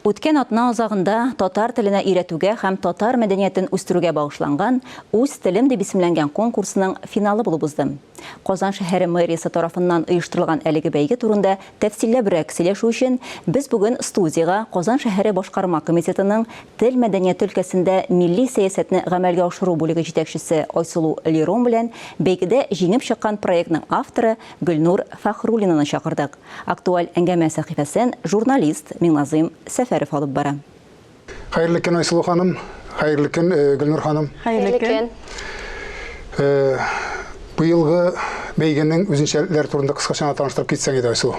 Үткән атна азагында татар теленә өйрәтүгә һәм татар мәдәниятен үстерүгә багышланган Үз телем дип исемләнгән конкурсның финалы булып уздым. Казан шәһәре мэриясе тарафыннан оештырылган әлеге бәйге турында тәфсилләбрәк сөйләшү өчен без бүген студиягә Казан шәһәре Башкарма комитетының тел мәдәнияте өлкәсендә милли сәясәтне гамәлгә ашыру бүлеге җитәкчесе Айсылу Лерон белән бәйгедә җиңеп чыккан проектның авторы Гөлнур Фәхруллинаны чакырдык. Актуаль әңгәмә сәхифәсен журналист Миңназыйм Сәфәров алып бара. Хәерле көн, Айсылу ханым. Хәерле көн, э, Гөлнур ханым. Хәерле көн. Э, быелгы бәйгенең үзенчәлекләре турында кыскача гына таныштырып китсәң иде, Айсылу.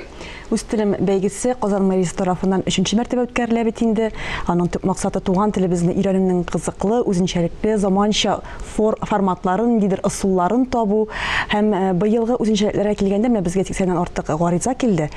Үз телем бәйгесе Казан мэриясе тарафыннан өченче мәртәбә үткәрелә бит инде. Аның төп максаты туган телебезне өйрәнүнең кызыклы, үзенчәлекле, заманча фор, форматларын, ниндидер ысулларын табу һәм быелгы үзенчәлекләргә килгәндә, менә безгә 80 артык гариза килде.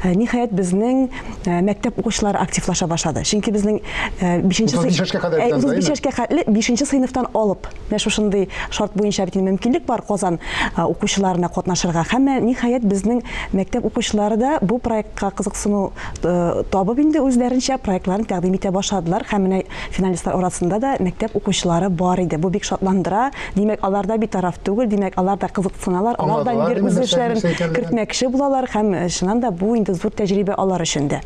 Ниһаять, безнең мәктәп укучылары активлаша башлады. Чөнки безнең 5 нче 35 яшькә кадәр бит анда, 35 яшькә кадәр 5 нче сыйныфтан алып, менә шушындый шарт буенча бит инде мөмкинлек бар Казан укучыларына катнашырга. Һәм менә ниһаять безнең мәктәп укучылары да бу проектка кызыксыну табып инде үзләренчә проектларын тәкъдим итә башладылар һәм менә Финалистлар арасында да мәктәп укучылары бар иде. Бу бик шатландыра. Димәк, алар да битараф түгел, димәк, алар да кызыксыналар, алар да инде үз эшләрен кертмәкче булалар һәм, чыннан да, бу инде зур тәҗрибә алар өчен дә.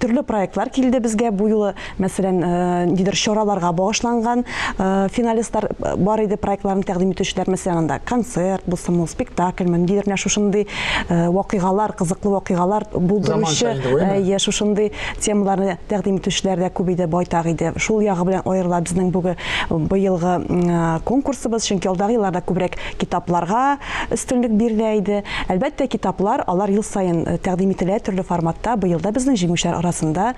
Төрле проектлар килде безгә бу юлы. Мәсәлән, ниндидер чараларга багышланган финалистлар бар иде, проектларын тәкъдим итүчеләр. Мәсәлән, анда концерт булсын, ул спектакльме, ниндидер менә шушындый вакыйгалар, кызыклы вакыйгалар булдыручы, әйе, шушындый Темаларны тәкъдим итүчеләр дә күп иде, байтак иде. Шул ягы белән аерыла безнең бүге быелгы конкурсыбыз, чөнки алдагы елларда күбрәк китапларга өстенлек бирелә иде. Әлбәттә, китаплар, алар ел саен тәкъдим ителә төрле форматта. Быел да безнең җиңүчеләр арасында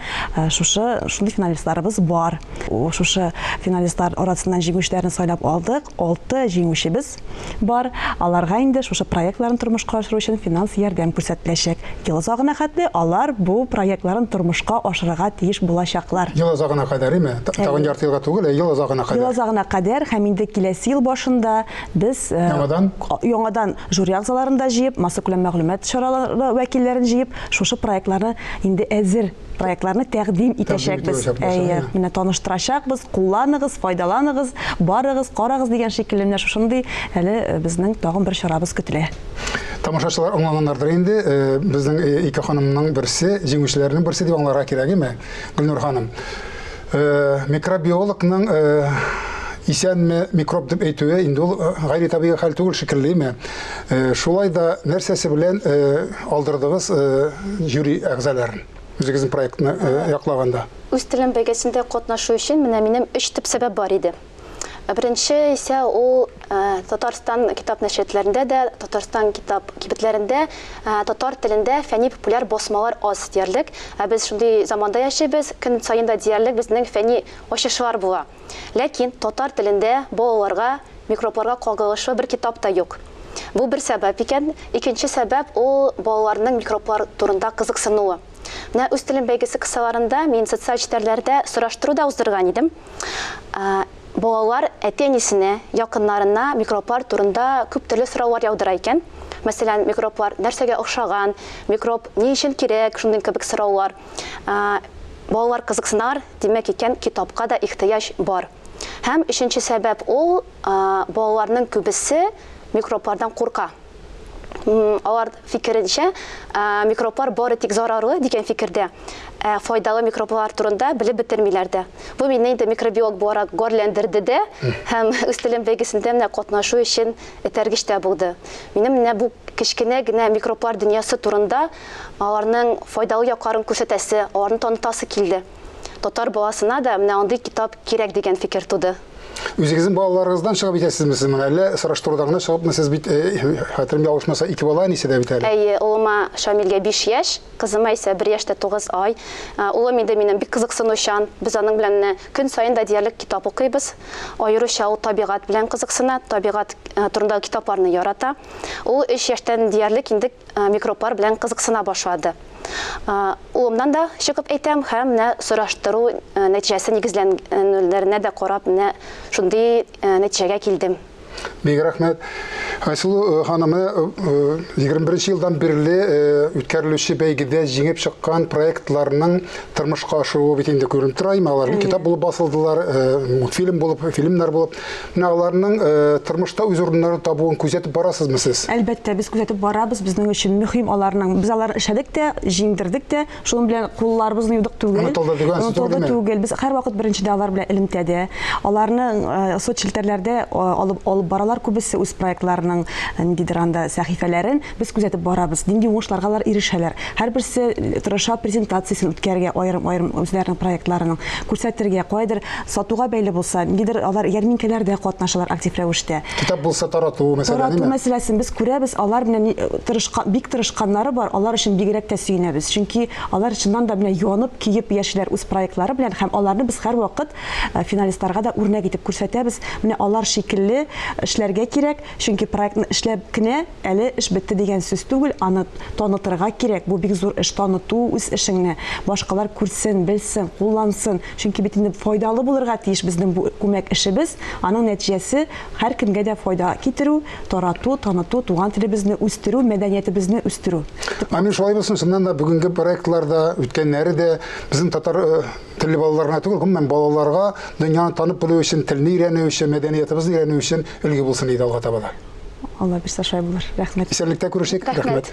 шушы шундый финалистларыбыз бар. Шушы финалистлар арасыннан җиңүчеләрне сайлап алдык. Алты җиңүчебез бар, аларга инде шушы проектларын тормышка ашыру өчен финанс ярдәм күрсәтеләчәк. Ел азагына хәтле алар бу проектларын тормышка ашырырга тиеш булачаклар. Ел азагына кадәреме? Тагын ярты елга түгел, ә ел азагына кадәр. Ел азагына кадәр һәм инде киләсе ел башында без яңадан яңадан жюри әгъзаларын да җыеп, массакүләм мәгълүмат чаралары вәкилләрен җыеп, шушы проектларны инде әзер проектларны тәкъдим итәчәкбез. Әйе, менә таныштырачакбыз, кулланыгыз, файдаланыгыз, барыгыз, карагыз дигән шикелле менә шушындый әле э, безнең тагын бер чарабыз көтелә. Тамашачылар аңлаганнардыр инде, э, безнең э, ике ханымның берсе, җиңүчеләрнең берсе дип аңларга кирәгеме, Гөлнур ханым? Э, микробиологның э, исәнме микроб дип әйтүе инде ул э, гайри табигый хәл түгел шикеллеме шулай да нәрсәсе белән алдырдыгыз жюри әгъзаларын үзегезнең проектны яклаганда үз телем бәйгесендә катнашу өчен менә минем өч төп сәбәп бар иде Беренче исә ул Татарстан китап нәшриятләрендә дә, Татарстан китап кибетләрендә татар телендә фәнни-популяр басмалар аз диярлек. Ә без шундый заманда яшибез, көн саен да диярлек безнең фәнни ачышлар була. Ләкин татар телендә балаларга микробларга кагылышлы бер китап та юк. Бу бер сәбәп икән. Икенче сәбәп ул балаларның микроблар турында кызыксынуы. Менә Үз телем бәйгесе кысаларында мин социаль челтәрләрдә сораштыру да уздырган идем. Балалар әти-әнисенә, якыннарына микроблар турында күп төрле сораулар яудыра икән. Мәсәлән, микроблар нәрсәгә охшаган, микроб ни өчен кирәк, шундый кебек сораулар. Балалар кызыксыналар, димәк икән, китапка да ихтыяҗ бар. Һәм өченче сәбәп ул, балаларның күбесе микроблардан курка. Алар фикеренчә, микроблар бары тик зарарлы дигән фикердә, ә файдалы микроблар турында белеп бетермиләр дә. Бу мине инде микробиолог буларак гарьләндерде дә һәм үз телем бәйгесендә менә катнашу өчен этәргеч тә булды. Минем менә бу кечкенә генә микроблар дөньясы турында, аларның файдалы якларын күрсәтәсе, аларны танытасы килде. Татар баласына да менә андый китап кирәк дигән фикер туды. Үзегезнең балаларыгыздан чыгып итәсезме сез моны? Әллә сораштыруда гына чыгыпмы сез бит, э, хәтерем ялгышмаса, ике бала әнисе дә бит әле. Әйе, улыма Шамилгә 5 яшь, кызыма исә 1 яшь тә 9 ай. Э, улым инде минем бик кызыксынучан. Без аның белән менә көн саен да диярлек китап укыйбыз. Аеруча ул табигать белән кызыксына, табигать э, турындагы китапларны ярата. Ул 3 яшьтән диярлек инде микроблар белән кызыксына башлады. Улымнан да чыгып әйтәм һәм менә сораштыру нәтиҗәсе нигезләнүләренә дә карап, менә шундый нәтиҗәгә килдем. Бик рәхмәт. Айсылу ханым, 21 елдан бирле үткәрелүче бәйгедә җиңеп чыккан проектларның тормышка ашыруы бит инде күренеп тора. Алар китап булып басылдылар, мультфильм булып, фильмнар булып. Менә аларның э, тормышта үз урыннарын табуын күзәтеп барасызмы сез? Әлбәттә, без күзәтеп барабыз. Безнең өчен мөһим аларның. Без алар эшләдек тә, җиңдердек тә. Шуның белән кулларыбыз юдык түгел. Онытылды дигән сүз түгел. түгел. Без һәрвакыт беренчедә алар белән элемтәдә. Аларның э, соцчелтәрләрдә э, алып алып баралар күбесе үз проектларының ниндидер анда сәхифәләрен. Без күзәтеп барабыз, нинди уңышларга алар ирешәләр. Һәрберсе тырыша презентациясен үткәрергә аерым-аерым үзләренең проектларының, күрсәтергә, каядыр сатуга бәйле булса, ниндидер алар ярминкәләрдә катнашалар актив рәвештә. Китап булса тарату мәсьәлә, димме? Тарату мәсьәләсен без күрәбез, алар менә ни тырышкан, бик тырышканнары бар, алар өчен бигрәк тә сөенәбез. Чөнки алар чыннан да менә янып, көеп яшиләр үз проектлары белән һәм аларны без һәрвакыт финалистларга да үрнәк итеп күрсәтәбез, менә алар шикелле эшләргә кирәк, Чөнки проектны эшләп кенә әле эш бетте дигән сүз түгел, аны танытырга кирәк. Бу бик зур эш, таныту үз эшеңне, башкалар күрсен, белсен, куллансын. Чөнки бит инде файдалы булырга тиеш безнең бу күмәк эшебез, аның нәтиҗәсе һәркемгә дә файда китерү, тарату, таныту, туган телебезне үстерү, мәдәниятебезне үстерү. Амин, шулай булсын. Чыннан да бүгенге проектлар да, үткәннәре дә безнең татар телле балаларына түгел, гомумән балаларга дөньяны танып белү өчен, телне өйрәнү өчен, мәдәниятебезне өйрәнү өчен Өлге булсын иде алга таба да. Алла бирса шулай булыр. Рәхмәт. Исәнлектә күрешик. Рәхмәт.